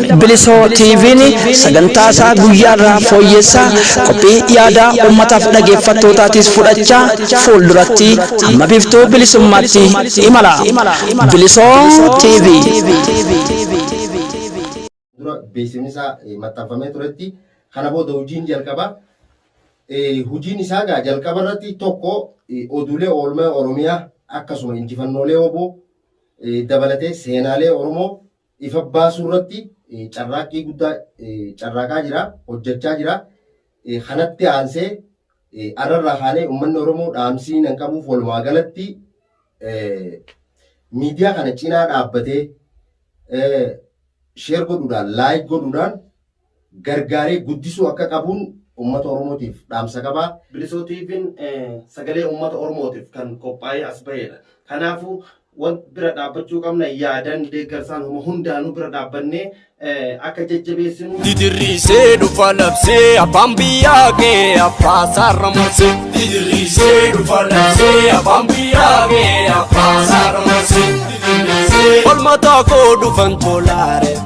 Bilisoo TV'n sagantaa isaa guyyaa irraa fooyyessaa qophii yaadaa uummataaf dhageeffattootaatis fudhachaa fuulduratti amma biftuu bilisummaatti imala. Bilisoo TV. dura beeksifni isaa eh, maxxanfamee turetti kana booda hojiin jalqaba eh, hojiin isaa gaa jalqaba irratti tokko eh, oduulee oolmaa oromiyaa akkasuma injifannoolee oboo eh, dabalatee seenaalee oromoo ifa baasuu irratti carraaqqii guddaa carraaqaa jira, hojjachaa jira. Kanatti aansee har'a irraa kaanee ummanni Oromoo dhaamsiin an qabuuf walumaa galatti miidiyaa kana cinaa dhaabbatee share godhuudhaan, like godhuudhaan, gargaaree guddisuu akka qabuun ummata Oromootiif dhaamsa qaba. Bilisoo TVn sagalee ummata Oromootiif kan qophaa'ee as baheedha. Kanaafuu wan bira dhaabbachuu qabna yaadan, deeggarsaan homa hundaanuu bira dhaabbannee akka jajjabeessinu. Didiriisee dhufa labsee abbaan biyyaa kee abbaa saarra marsee. Didiriisee dhufa labsee abbaan biyyaa kee abbaa saarra marsee. Didiriisee. Falmataa koo dhufan tolaare.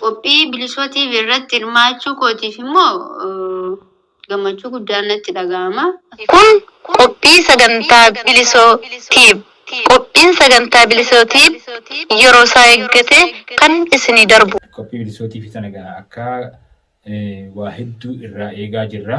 Qophii Bilisoo TV irratti hirmaachuu kootiif immoo gammachuu guddaan natti dhaga'ama. Kun qophii sagantaa Bilisoo Tube. Qophiin sagantaa Bilisoo Tube yeroo isaa eeggatee kan isinii darbu. Qophii Bilisoo TV tana egaa akka waa hedduu irraa eegaa jirra.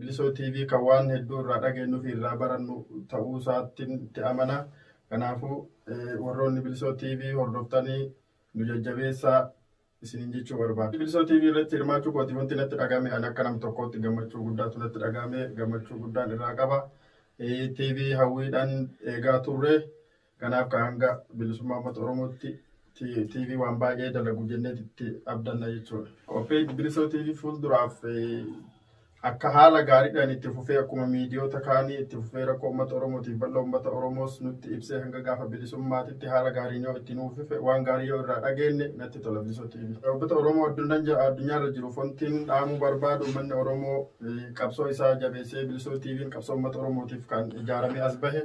Bilisoo TV kan waan hedduu irraa dhageenyu fi irraa barannu ta'uu isaattiin itti amana. Kanaafuu warroonni Bilisoo TV hordoftanii nu jajjabeessaa isiniin jechuu barbaada. Bilisoo TV irratti hirmaachuu kooti wanti natti dhaga'ame ani akka nam tokkootti gammachuu guddaatu natti dhaga'ame gammachuu guddaan irraa qaba. TV hawwiidhaan eegaa turre. Kanaaf ka hanga bilisummaa uummata Oromootti TV waan baay'ee dalagu jenneet itti abdanna jechuudha. Qophiin Bilisoo TV fuulduraaf akka haala gaariidhaan itti fufee akkuma miidiyoota kaanii itti fufee rakkoo uummata Oromootiif bal'oo uummata Oromoos nutti ibsee hanga gaafa bilisummaatitti haala gaariin yoo itti nuuf fufe waan gaarii yoo irraa dhageenne natti tola Bilisoo TV. Uummata Oromoo addunyaarra jiru fontiin dhaamuu barbaadu uummanni Oromoo qabsoo isaa jabeessee Bilisoo TV'n qabsoo uummata Oromootiif kan ijaaramee as bahe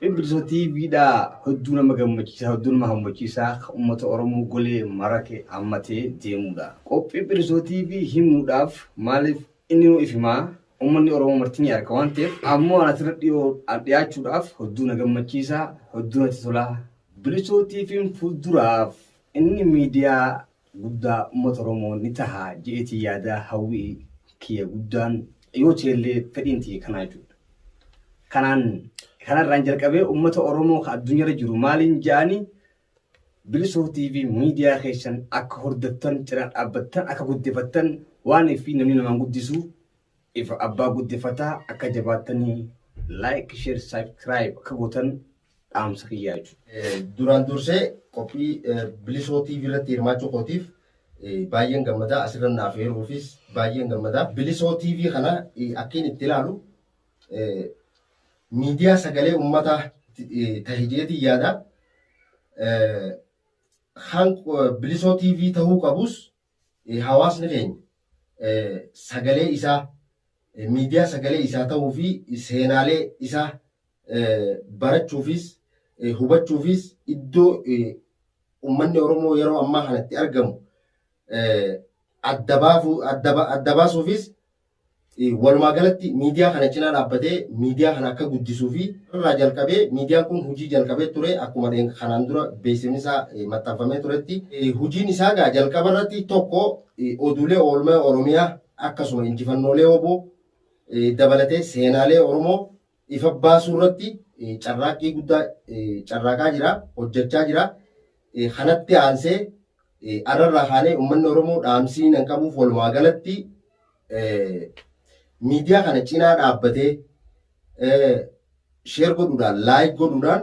Bilbisa TV dha hedduu nama gammachiisa hedduu nama hammachiisa kan uummata Oromoo golee marate hammatee deemuudha. Qophii Bilisoo TV himuudhaaf maaliif inni nu ifimaa uummanni Oromoo marti ni arka waan ta'eef ammoo ana asirra dhiyoo dhiyaachuudhaaf hedduu na gammachiisa hedduu natti tola. Bilisoo TV'n fuulduraaf inni miidiyaa guddaa ummata oromoo ni taha je'eetiin yaadaa hawwii kiyya guddaan yoo ta'ellee fedhiin tiyya kanaa jechuudha kanaan kanarraan jalqabee ummata oromoo ka addunyaarra jiru maaliin ja'ani bilisoo tv miidiyaa keessan akka hordoftan cinaa dhaabbattan akka guddifattan waan fi namni namaan guddisu Ifa abbaa guddifataa akka jabaattanii like share subscribe akka gootan dhaamsa kiyyaa jechuudha. Duraan dursee qophii bilisoo TV irratti hirmaachuu kootiif baay'een gammadaa asirra naaf heeruufis baay'een gammadaa. Bilisoo TV kana akkiin itti ilaalu miidiyaa sagalee uummataa tahe jeetii yaada. Kan bilisoo TV tahuu qabus hawaasni keenya sagalee isaa, miidiyaa sagalee isaa ta'uu fi seenaalee isaa barachuufis, hubachuufis iddoo ummanni Oromoo yeroo ammaa kana itti argamu adda baasuufis Walumaa galatti miidiyaa kana cinaa dhaabbatee miidiyaa kana akka guddisuu fi irraa jalqabee miidiyaan kun hujii jalqabee ture akkuma dheenga kanaan dura beeksifni isaa maxxanfamee turetti hujiin isaa egaa jalqaba irratti tokko oduulee oolmaa Oromiyaa akkasuma injifannoolee wbo dabalatee seenaalee Oromoo ifa baasuu irratti carraaqqii guddaa carraaqaa jira, hojjachaa jira. Kanatti aansee arra irraa kaanee ummanni Oromoo dhaamsiin an qabuuf walumaa galatti miidiyaa kana cinaa dhaabbatee share godhuudhaan, like godhuudhaan,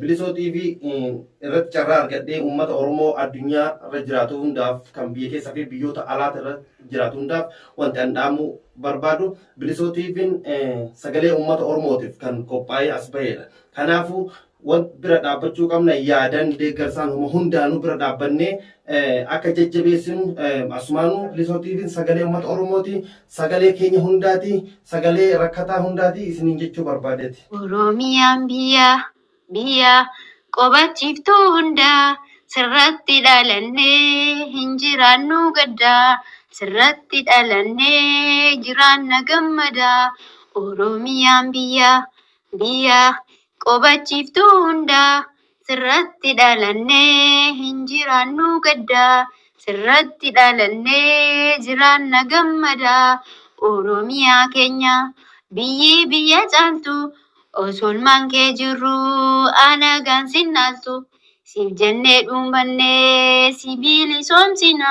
Bilisoo TV irratti carraa argadhee uummata Oromoo addunyaa irra jiraatu hundaaf kan biyya keessa fi biyyoota alaati irra jiraatu hundaaf wanti an dhaamuu barbaadu Bilisoo TV'n sagalee uummata Oromootiif kan qophaa'ee as baheedha. Kanaafuu wan bira dhaabbachuu qabna yaadan deeggarsaan homa hundaanuu bira dhaabbannee akka jajjabeessinu asumaanuu Bilisoo TV'n sagalee uummata Oromooti Sagalee keenya hundaati, sagalee rakkataa hundaati isiniin jechuu barbaadeeti. Oromiyaan biyya, biyya qobachiiftuu hundaa sirratti dhalannee hin jiraannu gaddaa sirratti dhalannee jiraanna gammadaa Oromiyaan biyya, biyya qobachiiftuu hundaa Sirratti dhalannee hin jiraannu gadda Sirratti dhalannee jiraanna gammada Oromiyaa keenya biyyii biyya caaltu Osoolmaan kee jirru alagaan sin dhaaltu Siif jennee dhuumannee si bilisoomsina